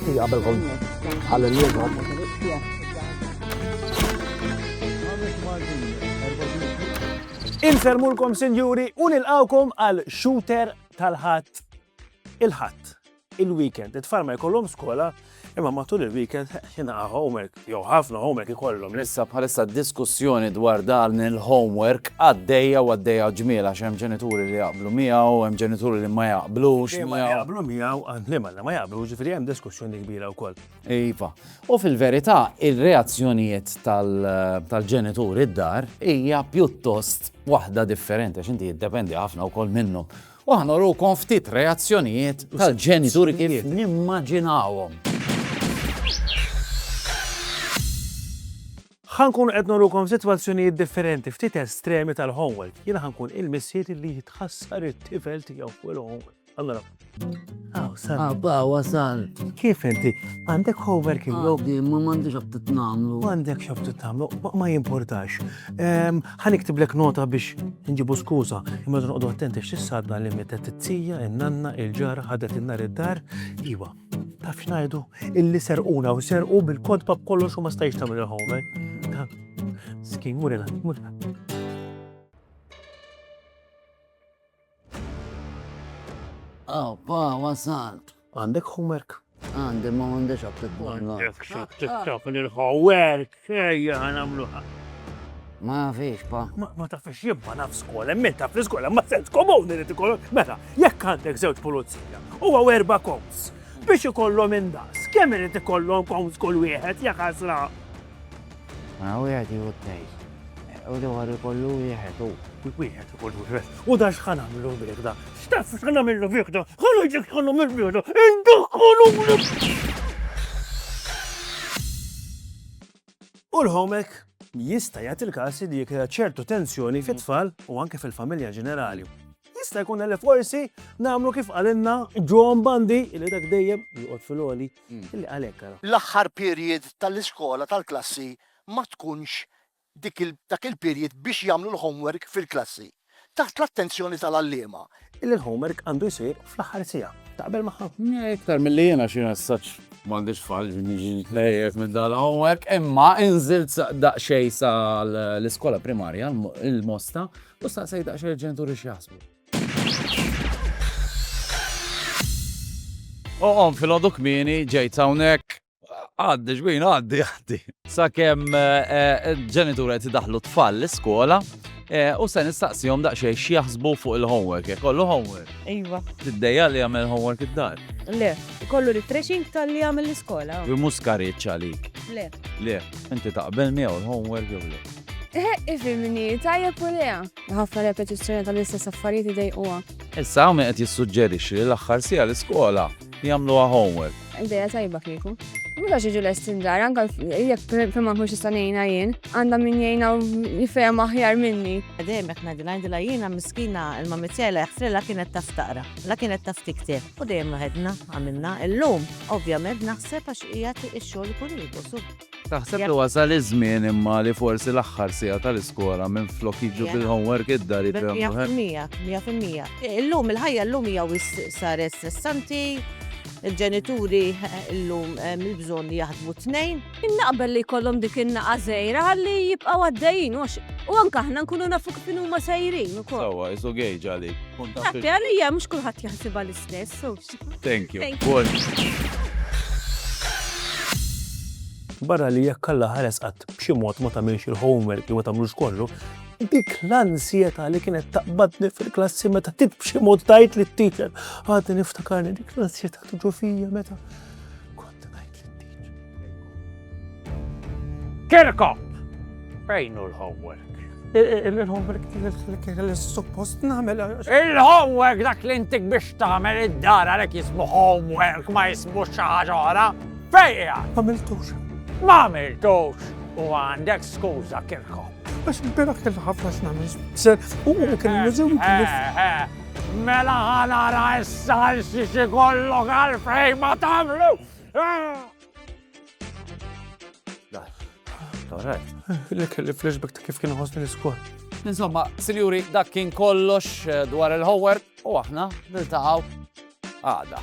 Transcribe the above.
Għabel kon għal Inselmulkom sinjuri u nilqawkom għal shooter tal-ħadd il-ħadd. il-weekend. It-tfal ma jkollhom skola, imma matul il-weekend jingħaqgħu homework, jew ħafna homework ikollhom. Issa bħalissa diskussjoni dwar dan il-homework għaddejja u għaddejja ġmiela x'hemm ġenituri li jaqblu miegħu, hemm ġenituri li ma jaqblux. Ma jaqblu miegħu għandli ma ma jaqblu, ġifieri hemm diskussjoni kbira wkoll. Iva. U fil-verità ir-reazzjonijiet tal-ġenituri d-dar hija pjuttost waħda differenti, x'inti jiddependi ħafna wkoll minnhom U aħna urukom ftit reazzjonijiet tal-ġenituri kif nimmaġinawhom. Ħa nkunu qed nurukom sitwazzjonijiet differenti ftit estremi tal-homework. Jien ħa nkun il-missier li jitħassar it-tifel tiegħu fuq il-homework. Allora. Aw, sal. Abba, wasal. Kif inti? Għandek homework il-lum? Għandi, ma m'għandix x'abtit nagħmlu. M'għandek x'abtit nagħmlu, ma jimportax. Ħa niktiblek nota biex nġibu skuża, imma noqogħdu attenti x'issadna li mietet it-tija, in-nanna, il-ġara ħadet in-nar id-dar, iwa. Taf x'ngħidu? Illi serquna u serqu bil-kodba b'kollox u ma stajx tagħmel il-homework. Skin, murina, murina. Aw, pa, wasalt. Għandek homework? Għandi, ma għandix għabtit bħalna. Għandek xab tiktaf l-homework, ejja għanamluħa. Ma fiex, pa. Ma ta' fiex jibba naf skola, minn ta' fiex skola, ma sens komuni li tikollu. Mela, jekk għandek zewġ pulizija, u għaw erba koms, biex ikollhom indas, kemm irid ikollhom koms kull wieħed, jekk għazla. Mela wieħed jieħu t-tnejn. U dewar ikollu wieħed u. Kull wieħed ikollu wieħed. U da x'ħa nagħmlu bih da? X'taf x'ħa nagħmlu bih da? Ħallu ġek x'ħa nagħmlu bih da? Indaħħolu U l-homek jista' jagħti l-każ li jekk ċertu tensjoni fit-tfal u anke fil-familja ġenerali. Jista' jkun li forsi nagħmlu kif qalilna John Bandi li dak dejjem joqgħod fil-għoli l-aħħar period tal-iskola tal-klassi ma tkunx dik dak il-period biex jagħmlu l-homework fil-klassi, taħt l-attenzjoni tal-għalliema. Illi l-homework għandu jsir fl-aħħar siegħa. Taqbel magħha? Iktar milli jiena xi messaġġ. M'għandix tfal biex niġi nitħejjed minn dal-homework, imma inżilt daqsxejn sa l-iskola primarja, il-Mosta, u staqsejt daqsxejn lill-ġenituri x'jaħsbu. Oqom fil-ħodu kmini, ġejt hawnhekk. Għaddi, xbin, għaddi, għaddi. Sakemm eh, eh, ġenitur qed idaħlu tfal l-iskola eh, u se nistaqsihom daqsxejn x'jaħsbu fuq il-homework, jekk kollu homework. Iva. Tiddejja li jagħmel homework id-dar. Le, kollu refreshing tal-li għamil l-iskola. Bi mhux skariċ għalik. Le. Le, inti taqbel miegħu l-homework jew le. Ifimni, tajja pulea. Ħafna repetizzjoni tal-istess affarijiet idejquha. Issa hawn min qed jissuġġerixxi li l-aħħar siegħa l-iskola jagħmluha homework. Ideja tajba kieku. Mhux għax jiġu lesti ndar, anke jekk fejn ma nkunx nista' ngħinha jien, għandha min jgħinha u jifhem aħjar minni. Dejjem hekk ngħidilha, ngħidilha jiena miskina il-mammi tiegħi la jaħfrilha kienet taf taqra, la kienet taf tikteb. U dejjem waħedna għamilna. Illum ovvjament naħseb għax qiegħed ix-xogħol ikun ieqos. Taħseb li wasal iż-żmien imma li forsi l-aħħar siegħa tal-iskola minflok jiġu bil-homework id-dar jitgħallmu. Mija fil-mija, mija fil-mija. Illum il-ħajja llum hija wis saret stressanti, il-ġenituri llum hemm il-bżonn li jaħdmu tnejn. Naqbel li jkollhom dik in-naqa' żgħira ħalli jibqgħu għaddejjin għax u anke aħna nkunu nafu kif huma sejrin ukoll. Sewwa, isu gauge għalik. Dak li għalija mhux kulħadd jaħsibha l-istess. Thank you. Thank you. Barra li jekk alla ħares qatt b'xi mod ma tagħmilx il-homework li ma tagħmlux kollu, dik l-ansjeta li kienet taqbadni fil-klassi meta tit b'xi mod tajt li t-teacher. Għadni niftakarni dik l-ansjeta tuġu fija meta Kirkop! Fejn hu l-homework? Il-homework li suppost nagħmel. Il-homework dak li intik biex tagħmel id-dar għalhekk jismu homework ma jismu xi ħaġa oħra. Fejja! M'għamiltux. M'għamiltux. U għandek skuża Kirkop. Biex birak il-ħafna x'nagħmel. Ser u kien Mela ħa nara issa xi xi kollok għalfejn ma tagħmlu. Li kelli flashback ta' kif kien ħosni l-iskol. Insomma, sinjuri, dak kien kollox eh, dwar il-hower u aħna niltaqgħu għada.